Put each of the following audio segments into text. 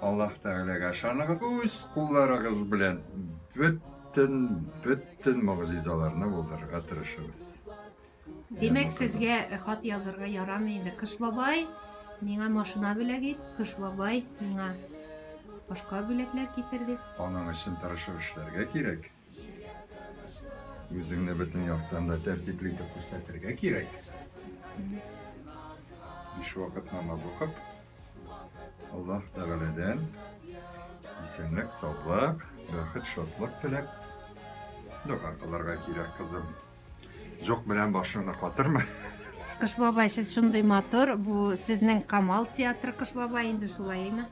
Аллаһ Тәгаләгә ышаныгыз. Үз кулларыгыз белән бөтен бөтен могҗизаларны булдырырга тырышыгыз. Димәк, сезгә хат язырга ярамый инде. Кыш бабай миңа машина бүләк ит, Кыш бабай миңа башка бүләкләр китерде. Аның өчен тырышып эшләргә кирәк. Үзеңне бөтен яктан да тәртипле итеп күрсәтергә кирәк. Биш вакыт намаз укып, Аллаһ Тәгаләдән исәнлек, саулык, бәхет, шатлык теләп дога кылырга кирәк, кызым. Җок белән башыңны катырма. Кыш бабай, сез шундый матур, бу сезнең Камал театры Кыш бабай инде шулаймы?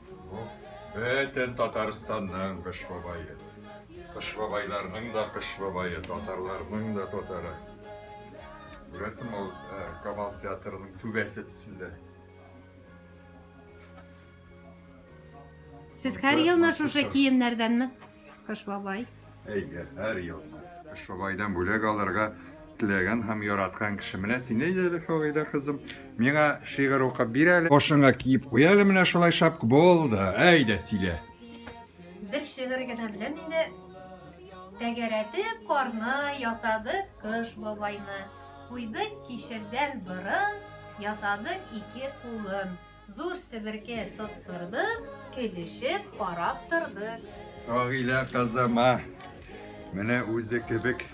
Бөтен Татарстанның Кыш бабае. Кыш бабайларның да Кыш бабае, татарларның да татары. Күрәсең, ул э, Камал театрының түбәсе төсендә. Сез һәр елны шушы киемнәрдәнме? Кыш бабай. Әйдә, һәр елны. Кыш бабайдан бүләк алырга теләгән һәм яраткан кеше. Менә син әйдә әле, Фагыйлә кызым. Миңа шигырь укып бир әле. Башыңа киеп куй әле менә шулай шапка. Булды. Әйдә, сөйлә. Бер шигырь генә беләм инде. Тәгәрәтеп карны ясадык кыш бабайны. Куйдык кишердән борын, ясадык ике кулын. Зур себерке тоттырдык, көлешеп карап тордык. Рагилә кызыма менә үзе кебек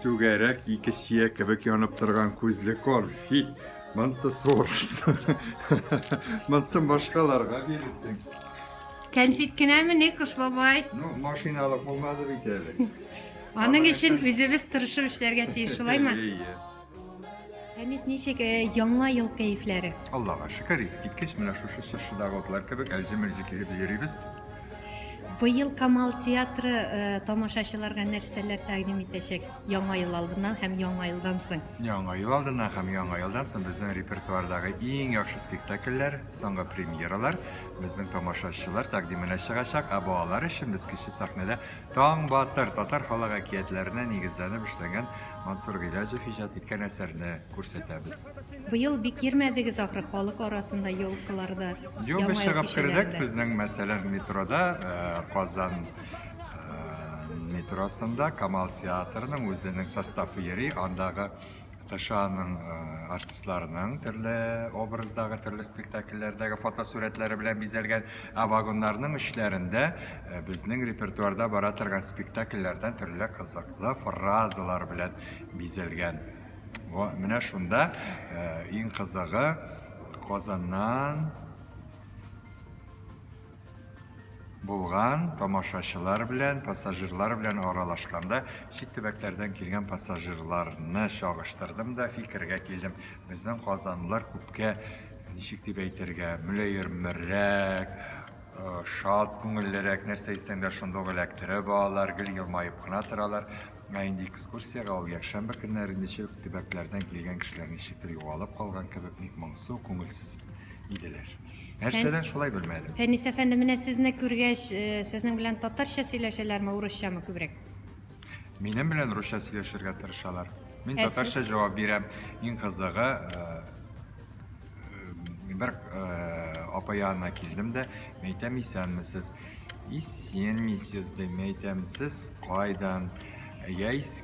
түгәрәк ике чия кебек янып торган күзле кор. Фит, монсы сорырсың. Монсын башкаларга бирерсең. Кәнфит кенәме не куш бабай? Ну, машиналык булмады бит әле. Аның өчен үзебез тырышып эшләргә тиеш, шулаймы? Әйе. Фәнис, ничек э, яңа ел кәефләре? Аллага шөкер, искиткеч, менә шушы чыршыдагы утлар кебек әлҗе-мөлҗе килеп йөрибез. Быел Камал театры э, тамашачыларга нәрсәләр тәкъдим итәчәк яңа ел алдыннан һәм яңа елдан соң? Яңа ел алдыннан һәм яңа елдан соң безнең репертуардагы иң яхшы спектакльләр, соңгы премьералар безнең тамашачылар тәкъдименә чыгачак, ә балалар өчен без кече сәхнәдә Таң батыр татар халык әкиятләренә нигезләнеп эшләнгән Мансур Гыйләҗев иҗат иткән әсәрне күрсәтәбез. Быел бик йөрмәдегез ахры халык арасында елкыларда. Юк, без чыгып кердек, безнең мәсәлән метрода э, Казан э, метросында Камал театрының үзенең составы йөри, андагы КШАның артистларының төрле образдагы, төрле спектакльләрдәге фотосурәтләре белән бизәлгән, ә вагоннарның эчләрендә безнең репертуарда бара торган спектакльләрдән төрле кызыклы фразалар белән бизәлгән. Во, менә шунда иң кызыгы Казаннан Булган, тамашачылар белән, пассажирлар белән аралашканда, чит төбәкләрдән килгән пассажирларны чагыштырдым да фикергә килдем, безнең казанлылар күпкә, ничек дип әйтергә, мөлаемрәк, э, шат күңеллерәк, нәрсә әйтсәң дә шунда ук эләктереп алалар, гел елмаеп кына торалар. Ә инде экскурсиягә ул якшәмбе көннәре ничек төбәкләрдән килгән кешеләр ничектер югалып калган кебек бик моңсу, күңелсез иделәр. Нәрсәдән шулай белмәдем. Фәнис әфәнде, менә сезне күргәч, э, сезнең белән татарча сөйләшәләрме, урысчамы күбрәк? Минем белән русча сөйләшергә тырышалар. Мин Ә татарча сез? җавап бирәм. Иң кызыгы, э, э, бер э, апа янына килдем дә, мин әйтәм, исәнмесез. Исәнмесез, дим, мин әйтәм, сез кайдан? Яис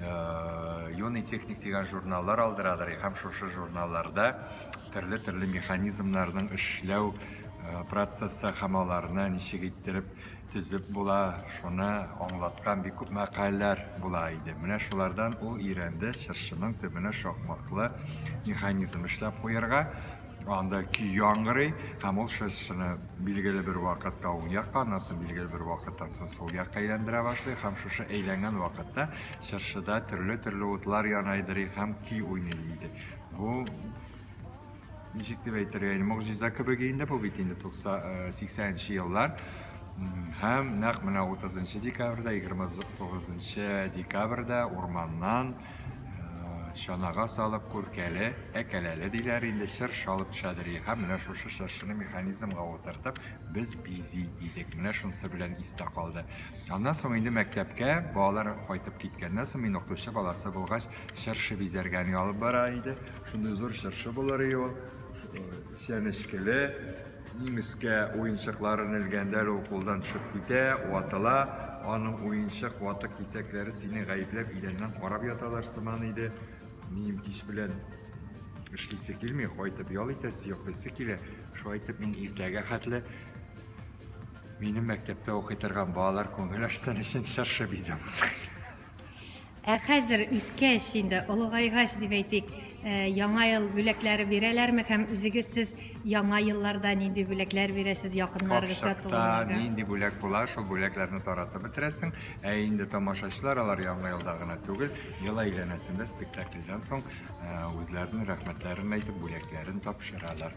Э, юный техник дигән журналлар алдырадыр һәм шушы журналларда төрле төрле механизмнарның эшләү э, процессы һәм аларны ничек иттереп төзеп була шуны аңлаткан бик күп мәкаләләр була иде менә шулардан ул өйрәнде чыршының төбенә шакмаклы механизм эшләп куярга Анда көй яңгырый, һәм ул шырчыны билгеле бер вакытта уң якка, аннан соң билгеле бер вакыттан соң сул якка әйләндерә башлый, һәм шушы әйләнгән вакытта чыршыда төрле-төрле утлар янайдырый һәм көй уйный иде. Бу ничек дип әйтергә, инде могҗиза кебек инде бу бит инде 80 нче еллар. Һәм нәкъ менә 30 декабрьдә, 29 декабрьдә урманнан чанага салып күркәле, әкәләле диләр инде чыр шалып шәдери. Һәм менә шушы чыршыны механизмга утыртып, без бизи идек. Менә шунсы белән истә калды. Аннан соң инде мәктәпкә балалар кайтып киткәннән соң мин укытучы баласы булгач, чыршы бизәргәне алып бара иде. Шундый зур чыршы булыр иде ул, чәнечкеле, Иң өскә уенчыклар элгәндә лә ул кулдан төшеп китә, ватыла. Аның уенчык ватык кисәкләре сине гаепләп идәннән карап яталар сыман иде. Минем кич белән эшлисе килми, кайтып ял итәсе, йоклыйсы килә. Шулай итеп мин иртәгә хәтле минем мәктәптә укый торган балалар күңел ачсын өчен чыршы бизәм. Ә хәзер үскәч инде, олыгайгач дип әйтик, э, яңа ел бүләкләре бирәләрме һәм үзегез сез яңа елларда нинди бүләкләр бирәсез якыннарыгызга, Капчыкта туганнарга? нинди бүләк була, шул бүләкләрне таратып бетерәсең. Ә инде тамашачылар алар яңа елда гына түгел, ел әйләнәсендә спектакльдән соң э, үзләренең рәхмәтләрен әйтеп, бүләкләрен тапшыралар.